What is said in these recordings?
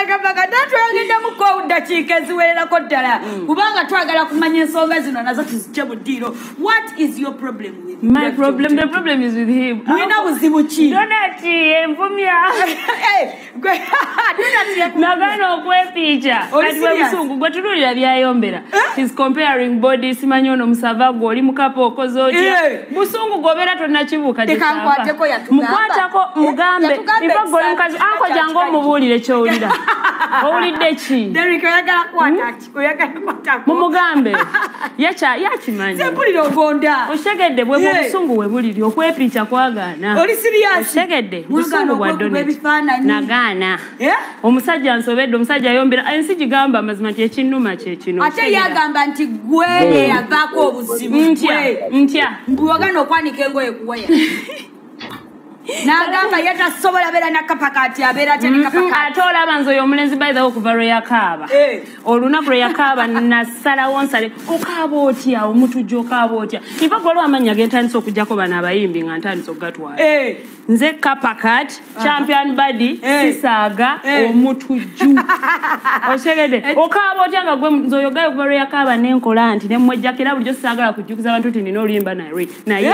agamba kata tweyogeddamu ko ddakiika eziwererako ddala mm. kubanga twagala kumanya ensonga zino nazo tuzijje mu ddiiro what is your problem withmulina buzibu ki donati envumya eh, nagana okwepiica kati bwebusungu gwe tunulira byayombera eh? his comparing body simanyi ono musava gwe oli mukapa okoze otya eh. busungu gwobeera tonakibuuka mukwatako eh, mugambe iva gwe oli mukazi ankojange omubuulire kyowulira owulidde ki hmm? mumugambe yakimanyi okitegedde bwe mubusungu we buliri okwepiica kwagaana okitegedde busungu bwa donet nagaana omusajja nsobedde omusajja ayombera ensi gigamba amazima nti ekinnuma kyekino ate yagamba nti gwe eyavaako obuzibu ntya ntya mbuwagana okwanika engoye kuwaya nagamba ye tasobola beera nakapa kati abeera atya ne kapa mm-hmm. kati ate olaba nze oyo omulenzi by the way okuva lwe yakaaba eh. olunaku lwe yakaaba nasalawo nsale okaaba otya omutujja okaaba otya iva gwaliwo amannya gentandise okujjako bano abayimbi nga ntandise okugatwala eh. nze kapa kati champion body eh. sisaaga omutujju okitegede okaaba otya nga gwe nze oyo gayo okuva lwe yakaaba nenkola nti nemwejjakira bulijjo sisaagala kujjukiza abantu nti nina oluyimba naye naye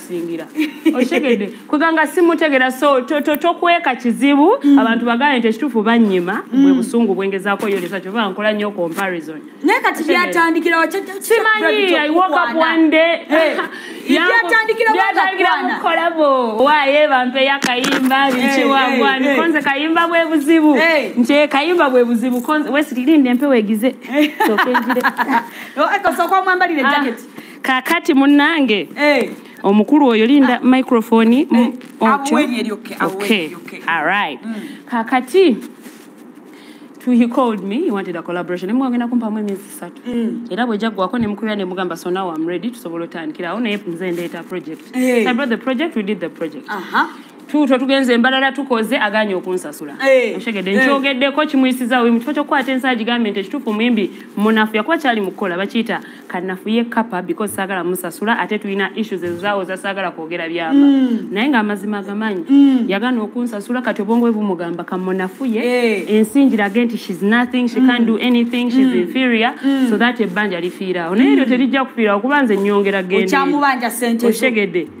okusingira okitegedde kweganga simutegera so tokweka kizibu mm. abantu bagaye nti ekituufu banyima mm. bwe busungu bwengezaako yolesa kyova nkola nnyo comparison naye kati byatandikirawo simanyi iwokakuwandebyatandikirawokolabo waye bampeyo akayimba bikiwagwanikonze kayimba bwe buzibu nti eh, kayimba bwe buzibu wesitirinde mpewegize sokenjire osooka omwambalire ah. jacket kakati munange eh. omukulu oyo linda ah. microphone eh. mm, mm. kakati he called me he wanted a collaboration emu agenda kumpamu emyezi satu mm. era bwejja gwako nemukubira nemugamba so now am ready tusobola otandikira awo naye nze ndeeta project hey. Eh. i brought the project we did the project uh -huh. tuutwo tugenze embalala tukoze aganye okunsasula eh, oshegedde eh. nkyogeddeko kimuyisiza oyo mukifo kyokukwata ensaa gigambye nti ekituufu muyimbi munafu yakuba kyali mukukola bakiyita kanafu ye kapa because saagala musasula ate tulina issues ezaawo zasaagala kwogera byama mm. naye nga amazima agamanyi mm. yagana okunsasula kati obwongo bwe bumugamba kamunafu ye eh. ensi ngirage nti shes nothing she can mm. do anything shes inferior so that ebbanja lifiirawo naye eryo terijja kufiirawo kuba nze nyongera gendeokyamubanja sente oshegedde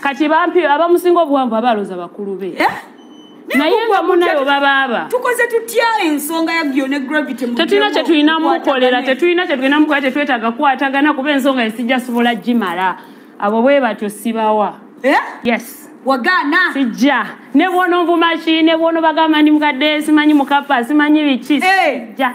kati bampi abamusinga obuwanvu abaloza bakulu be eh? naye nga munayo babaaba tukoze tutya ensonga ya gyo ne gravity tetulina kyetulina mukolera tetulina kyetulina mukola tetwetaaga kukwatagana kuba ensonga esijja sobola gimala abo bwe batyo sibawa eh? yes wagana sijja ne bwono nvumaki ne bwono bagamba ndi mukadde simanyi mukapa simanyi biki eh. sijja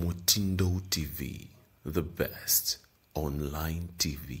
mutindo tv the best online tv